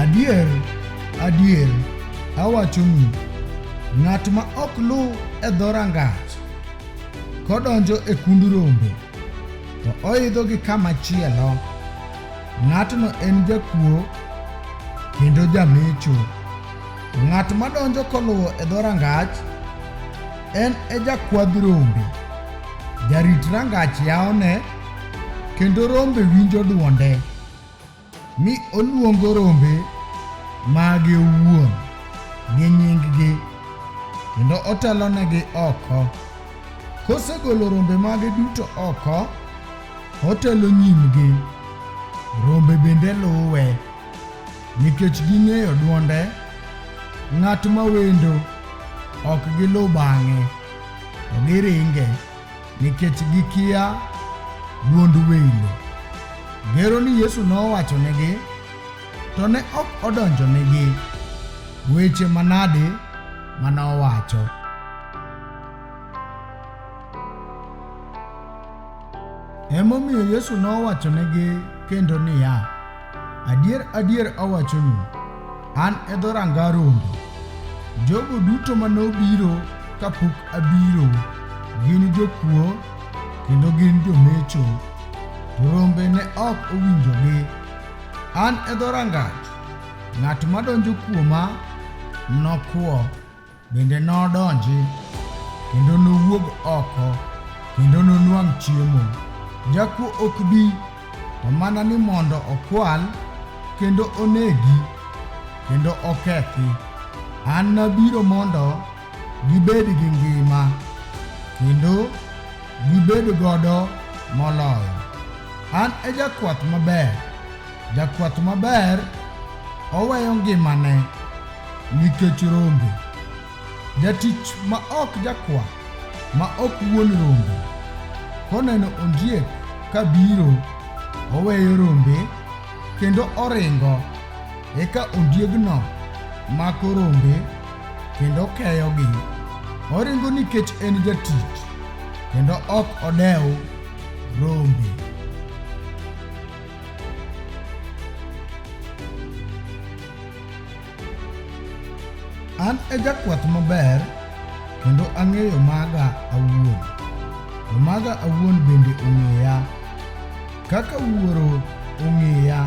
Adier, adier, awachonu, ng'at ma ok luw e dho rangach kodonjo e kund rombe, to oidho gi kama chielo, ng'atno en jakuo kendo jamecho. To ng'at madonjo koluwo e dho rangach En e jakwadh rombe. Jarit rangach yawone, kendo rombe winjo dwonde, mi oluongo rombe mage owuon gi nyinggi, kendo otelonegi oko. Kosegolo rombe mage duto oko, otelo nyimgi, rombe bende luwe. Nikech ging'eyo dwonde, ng'at ma wendo ok giluw bang'e, to giringe nikech gikia dwond welo. Gero ni Yesu nowachonegi, to ne ok odonjonegi. Weche manade ma nowacho? Emomiyo Yesu nowachonegi kendo niya, Adier adier awachonu, an e dho ranga rombe. Jogo duto ma nobiro kapok abiro gin jokuo kendo gin jomecho, to rombe ne ok owinjogi. An e dho rangach, ng'at madonjo kuoma nokwo. Bende nodonji kendo nowuog oko kendo nonwang' chiemo. Jakuo ok bi to mana ni mondo okwal kendo onegi kendo okethi. An nabiro mondo gibed gi ngima kendo gibed godo moloyo. An e jakwath maber, jakwath maber oweyo ngimane Nikech rombe. Jatich ma ok jakwa, ma ok wuon rombe, koneno ondiek ka biro, oweyo rombe kendo oringo. Eka ondiegno mako rombe kendo keyogi. Oringo nikech en jatich kendo ok odew rombe. An e jakwath maber kendo ang'eyo maga awuon, to maga awuon bende ong'eya. Kaka Wuoro ong'eya,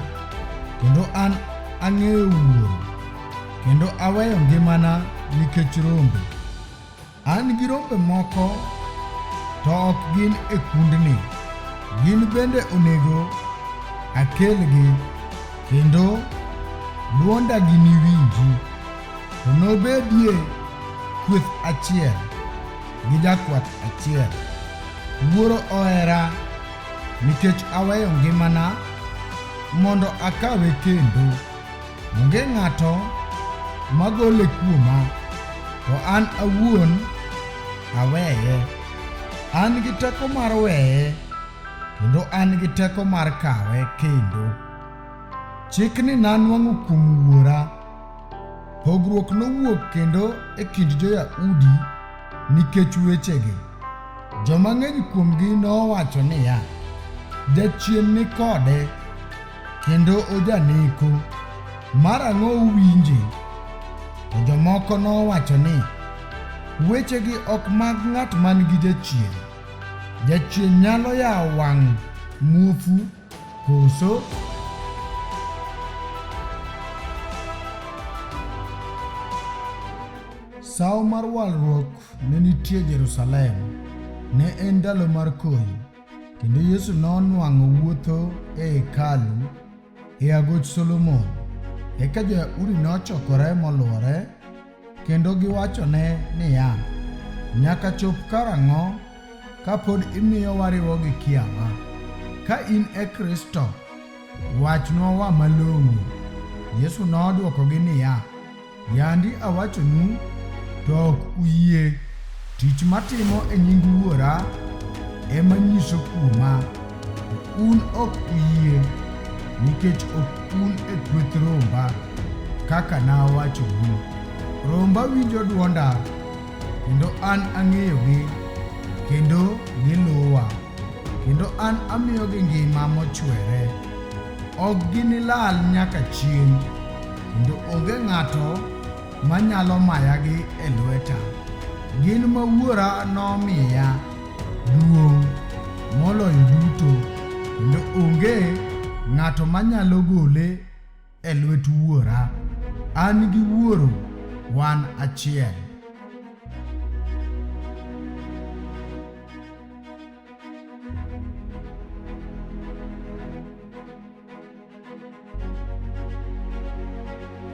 kendo an ang'eyo Wuoro, kendo aweyo ngimana nikech rombe. An gi rombe moko to ok gin e kundni, gin bende onego akelgi, kendo dwonda giniwinji. To nobedie kweth achiel gi jakwath achiel. Wuoro ohera nikech aweyo ngimana mondo akawe kendo. Onge ng'ato magole kuoma, to an awuon aweye. An gi teko mar weye, kendo an gi teko mar kawe kendo. Chikni nanwang'o kuom Wuora. Pogruok nowuok kendo e kind jo-Yahudi nikech wechegi. Joma ng'eny kuomgi nowacho niya, Jachien ni kode, kendo ojaneko, marang'o uwinje? To jomoko nowacho ni, Wechegi ok mag ng'at man gi jachien. Jachien nyalo yawo wang' muofu koso? Sawo mar walruok ne nitie Jerusalem. Ne en ndalo mar koyo. Kendo Yesu nonwang'o wuotho e hekalu e agoch Solomon. Eka jo-Yahudi nochokore molwore kendo giwachone niya, Nyaka chop karang'o ka pod imiyo wariwo gi kiawa? Ka in e Kristo, wachnwa wa malong'o. Yesu nodwokogi niya, Yandi awachonu, to ok uyie. Tich matimo e nying Wuora ema nyiso kuoma. Un ok uyie, nikech ok un e kweth romba, kaka nawachonu. Romba winjo dwonda, kendo an ang'eyogi, kendo giluwa, kendo an amiyogi ngima mochwere. ok ginilal nyaka chieng', kendo onge ng'ato manyalo mayagi e lweta. Gin ma Wuora nomiya duong' moloyo duto, kendo onge ng'ato manyalo gole e lwet Wuora. An gi Wuoro wan achiel.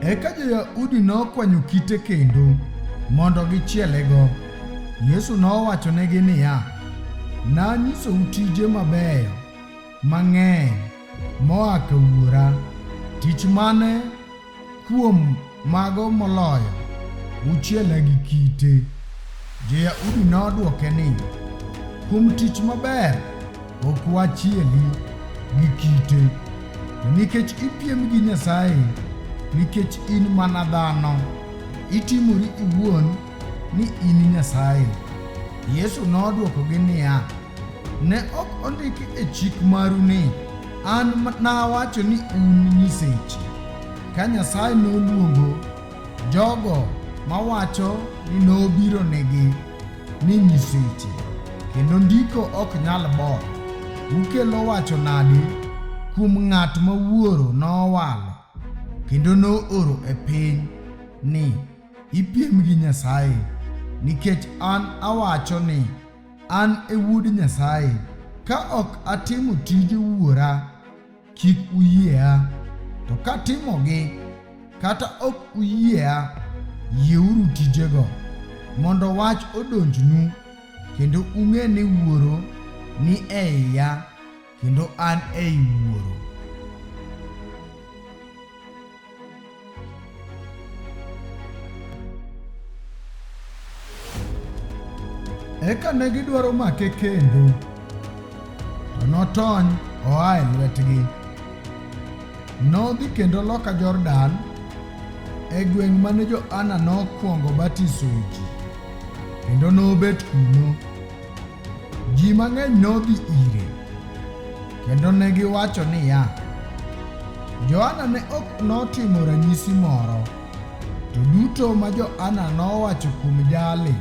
Eka jo-Yahudi nokwanyo kite kendo mondo gichielego. Yesu nowachonegi niya, Nanyisou tije mabeyo mang'eny moa ka Wuora. Tich mane Kuom mago moloyo, uchiela gi kite. Jo-Yahudi nodwoke ni, Kuom tich maber ok wachieli gi kite, to nikech ipiem gi Nyasaye, nikech in mana dhano, itimori iwuon ni in Nyasaye. Yesu nodwokogi niya, Ne ok ondiki e chik maru ni, An nawacho ni un nyiseche. Ka Nyasaye noluongo jogo mawacho ni nobiro negi ni nyiseche, kendo ndiko ok nyal bor, ukelo wacho nadi kuom ng'at ma wuoro nowalo kendo nooro e piny ni ipiem gi Nyasaye nikech an awacho ni An e Wuod Nyasaye. Ka ok atimo tije Wuora, kik uyiea. To katimogi, kata ok uyiea, yieuru tijego, mondo wach odonjnu, kendo ung'e ni Wuoro ni e iya. kendo an ei Wuoro. Eka ne gidwaro make kendo, to notony oa e lwetgi. Nodhi kendo loka Jordan e gweng' mane Johana nokwongo batisoe ji, kendo nobet kuno. Ji mang'eny nodhi ire kendo ne giwacho niya, Johana ne ok notimo ranyisi moro, to duto ma Johana nowacho kuom jali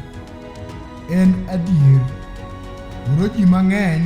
en adier. Koro ji mang'eny